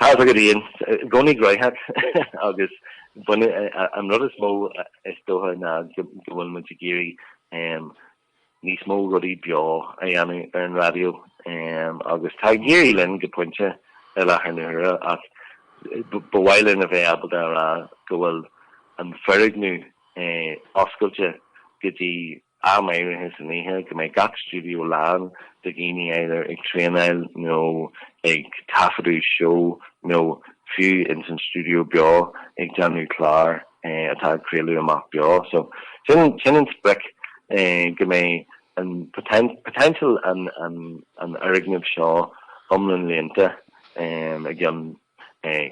Tá's agat féin i gcónaí graitheach agus b'fhéidir an rud is mó is dócha ná go bhfuil muid ag iarraidh níos mó rudaí beo a dhéanamh ar an raidió agus tá ag éirí linn go pointe i láthair na huaire ach ba mhaith linn a bheith ábalta a rá go bhfuil an foirgneamh oscailte go dtí am áirithe san oíche, go mbeidh gach stiúideo lán de dhaoine either ag traenáil nó ag taifeadadh seó nó fiú ins an stiúideo beo ag déanamh clár atá ag craoladh amach beo. So sin an sprioc go mbeidh potential an fhoirgnimh seo iomlán líonta i gceann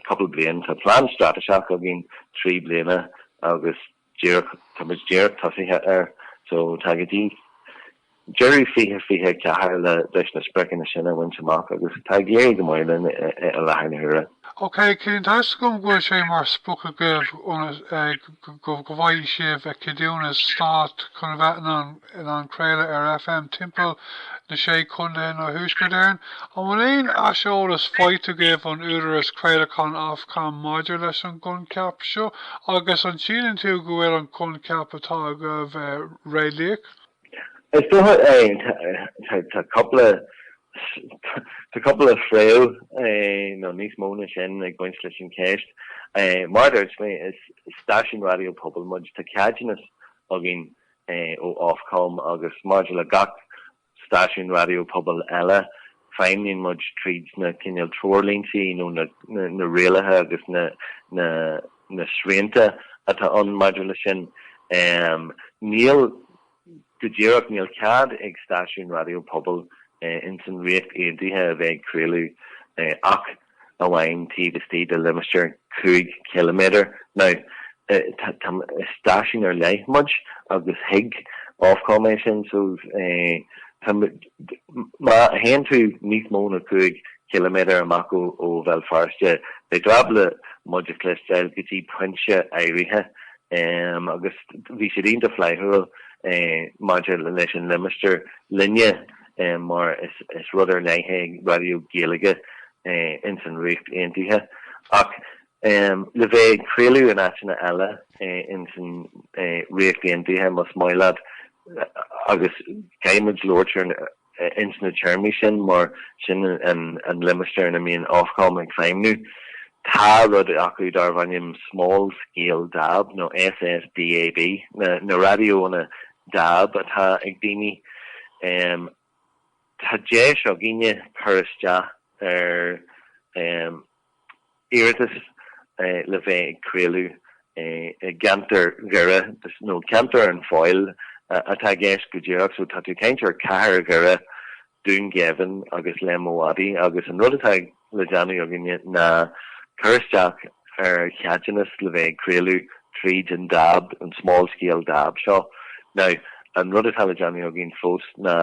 cúpla bliain. Tá plean straitéiseach againn trí bliana agus. díreach, tá muid díreach tosaithe air so tá go dtí deireadh 2024 le leis na spriocanna sin a bhaint amach agus tá ag éirí go maith linn i láthair na huaire. OK, tá a fhios agam go bhfuil sé mar sprioc agaibh go bhfaighidh sibh ceadúnas stáit chun a bheith in ann in ann craoladh ar FM timpeall na sé chontae i dTuaisceart Éireann. An bhfuil aon aiseolas faighte agaibh ón Údarás Craolacháin Ofcom maidir leis an gcoincheap seo agus an síleann tú go bhfuil an coincheap atá agaibh réalaíoch? Is dócha é. Tá cúpla tá cúpla fréamh nó níos mó ná sin ag baint leis an cheist. Mar a dúirt mé is stáisiún raidió pobail muid. Tá ceadúnas againn ó Ofcom agus maidir le gach stáisiún raidió pobail eile, feidhmíonn muid tríd na cineál treoirlínte nó na rialaithe agus na srianta atá ann maidir leis sin. Níl, go díreach níl cead ag stáisiún raidió pobail ins an Ríocht Aontaithe a bheith ag craoladh ach amháin taobh istigh de limistéar cúig chiliméadar. Now is stáisiún ar leith muid agus thuig Ofcom é sin so tá muid má théann tú níos mó na cúig chiliméadar amach ó Bhéal Feirste beidh tú ábalta muid a chloisteáil go dtí pointe áirithe agus bhí siad iontach flaithiúil maidir leis an limistéar linne. é mar is rud ar leith é raidió Gaeilge ins an Ríocht Aontaithe ach le bheith ag craoladh in áiteanna eile ins an Ríocht Aontaithe más maith leat agus caithfidh muid labhairt ins na téarmaí sin mar sin an limistéar ina mbíonn Ofcom ag feidhmniú. Tá rud acu darbh ainm Small Scale DAB nó SSDAB, na raidiónna dab atá ag daoine. Tá deis againne cur isteach ar iarratas le bheith ag craoladh i gceantar Dhoire, nó ceantar an Feabhail atá i gceist go díreach, so tá tú ag caint ar chathair Dhoire, Dún Geimhin agus Léim an Mhadaidh agus an rud atá le déanamh againne ná cur isteach ar cheadúnas le bheith ag craoladh tríd an dab, an small scale dab seo. Now, an rud atá le déanamh againn fós ná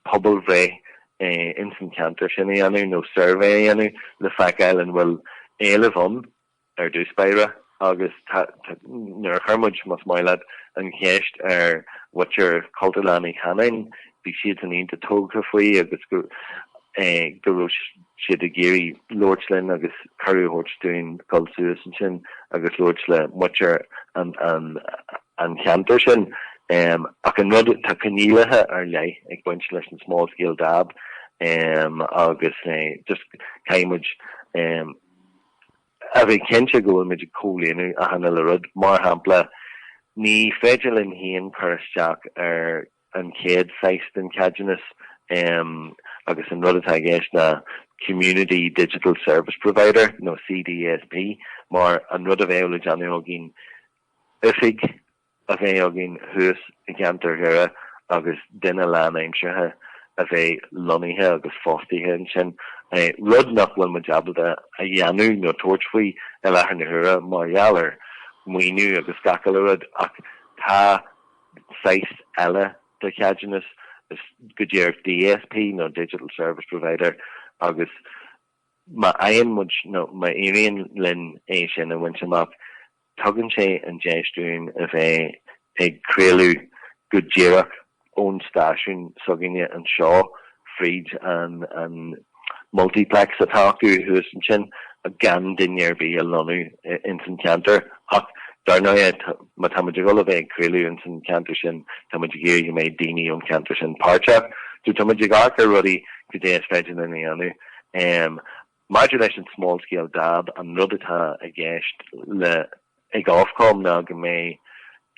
pobalbhreith insan cheantar sin a dhéanamh nó suirbhé a dhéanamh le feiceáil an bhfuil éileamh ann. ar dtús báire agus nuair a chuir muid, más maith leat, an cheist ar mhuintir Chultúrlann Uí Chanáin, bhí siadsan iontach tógtha faoi agus go raibh siad ag iarraidh labhairt linn agus cuireadh a thabhairt dúinn dul suas ansin agus labhairt le muintir an cheantair sin. Ach an rud, tá coinníollacha ar leith ag baint leis an small scale dab agus just, caithfidh muid, a bheith cinnte go bhfuil muid ag comhlíonadh achan uile rud. Mar shampla, ní féidir linn féin cur isteach ar an chéad saghas den cheadúnas agus an rud atá i gceist ná Community Digital Service Provider nó CDSP mar an rud a bheadh le déanamh againn oifig a bheith againn thuas i gceantar Dhoire agus duine lánaimseartha a bheith lonnaithe agus fostaithe ansin, rud nach bhfuil muid ábalta a dhéanamh nó tabhairt faoi i láthair na huaire mar gheall ar mhaoiniú agus gach uile rud. Ach tá saghas eile de cheadúnas, go díreach DSP nó Digital Service Provider, agus má fhaigheann muid nó má éiríonn linn é sin a bhaint amach, Tugann sé an deis dúinn a bheith ag craoladh go díreach ón stáisiún s'againne anseo fríd an multiplex atá acu thuas ansin gan duine ar bith a lonnú insan cheantar ach dár ndóighe má tá muid a dhul a bheith ag craoladh insan cheantar sin tá muid ag iarraidh go mbeidh daoine ón cheantar sin páirteach so tá muid ag amharc ar rudaí cad é is féidir linn a dhéanamh. Maidir leis an 'small scale dab', an rud atá i gceist le ag Ofcom ná go mbeidh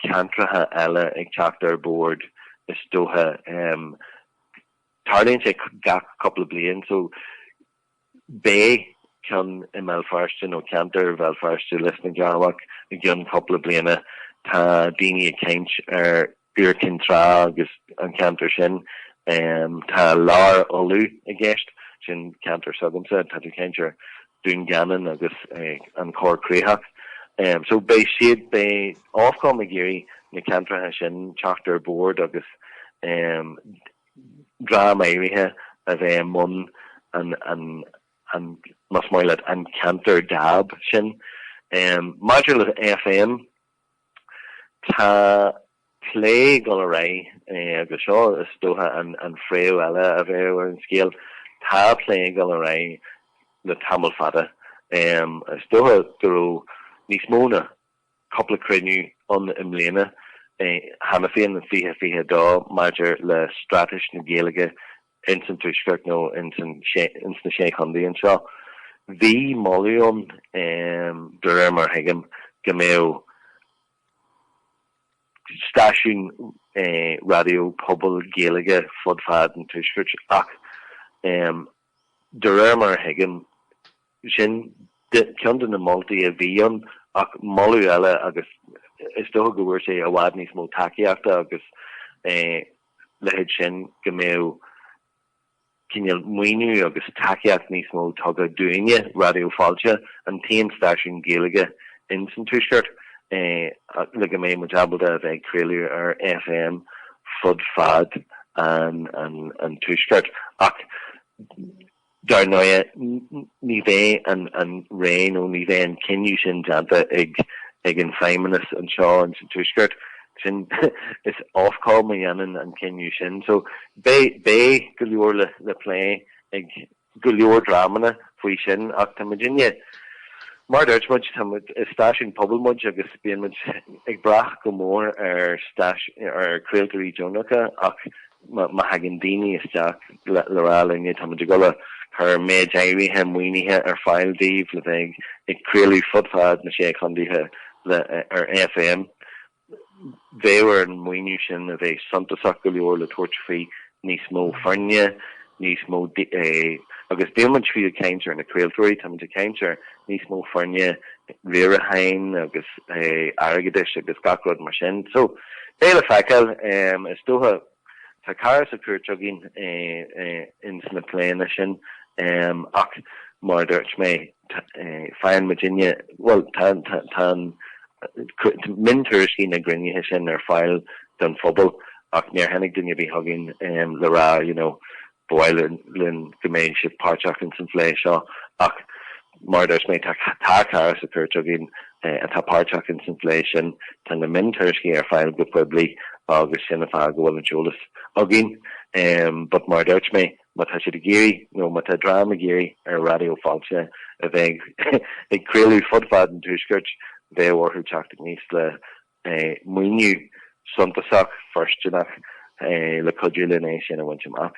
ceantracha eile ag teacht ar bord is dócha. Tarlaíonn sé gach cúpla bliain so beidh ceann i mBéal Feirste nó ceantar Bhéal Feirste, Lios na gCearrbhach i gceann cúpla bliana. Tá daoine ag caint ar Iúr Cinn Trá agus an ceantar sin. Tá Lár Uladh i gceist, sin ceantar s'agamsa, tá tú ag caint ar Dhún Geanainn agus an Chorr Chríochach. So beidh siad, beidh Ofcom ag iarraidh na ceantracha sin teacht ar bord agus dream áirithe a bheith i mbun an, más maith leat, an ceantar dab sin. Maidir le FM. Tá plé ag dul ar aghaidh agus seo is dócha an fhréamh eile a bheadh ar an scéal, tá plé ag dul ar aghaidh le tamall fada. Is dócha go raibh níos mó ná cúpla cruinniú ann i mbliana cheana féin i 2022 maidir le straitéis na Gaeilge ins an tuaisceart nó ins na Sé Chontae anseo. Bhí moladh ann, de réir mar a thuigim, go mbeadh stáisiún raidió pobail Gaeilge fud fad an tuaiscirt ach de réir mar a thuigim, sin ceann de na moltaí a bhí ann ach moladh eile agus is dócha go bhfuair sé i bhfad níos mó tacaíochta agus leithéid sin go mbeadh cineál maoiniú agus tacaíocht níos mó tugtha dúinne, Raidió Fáilte, an t-aon stáisiún Gaeilge ins an tuaisceart, le go mbeidh muid ábalta a bheith ag craoladh ar FM fud fad an tuaiscirt. Ach. Dar ndóigh, ní bheidh an rá nó ní bheidh an cinneadh sin déanta ag an Feidhmeannas anseo sa Tuaisceart. Sin, is Ofcom a dhéanann an cinneadh sin. So, beidh go leor le plé ag go leor dreamanna faoi sin ach tá muidinne, mar a dúirt muid, tá muid, is stáisiún pobail muid agus bíonn muid ag brath go mór ar stá, ar chraoltóirí deonacha ach Má thagann daoine isteach le rá linn táimid ag gabháil a chur méid áirithe maoinithe ar fáil daoibh le bheith ag craoladh fud fad na sé chontaetha ar FM. Bheadh ar an maoiniú sin a bheith suntasach go leor le tabhairt faoi níos mó foirne, níos mó, agus ní bhíonn muid fiú ag caint ar na craoltóirí, táimid ag caint ar níos mó foirne riaracháin agus airgeadais agus gach rud mar sin. So, beidh le feiceáil. Is dócha, tá cara sa chúirt againn ins na pléanna sin ach mar a dúirt mé, faigheann muidinne, bhuel, tá an, miontuairiscí na gcruinnithe sin ar fáil don phobal ach níor tháinig duine ar bith chugainn le rá, you know, Ba mhaith linn go mbeadh sé páirteach ins an phlé seo ach mar a dúirt mé tá cara sa chúirt againn atá páirteach ins an phlé sin. Tá na miontuairiscí ar fáil go poiblí agus sin an fáth go bhfuil an t-eolas againn but mar a dúirt mé má tá siad ag iarraidh nó má tá dream ag iarraidh ar Raidió Fáilte a bheith ag craoladh fud fad an tuaiscirt bheadh orthu teacht aníos le maoiniú suntasach fóirsteanach le cuidiú linn é sin a bhaint amach.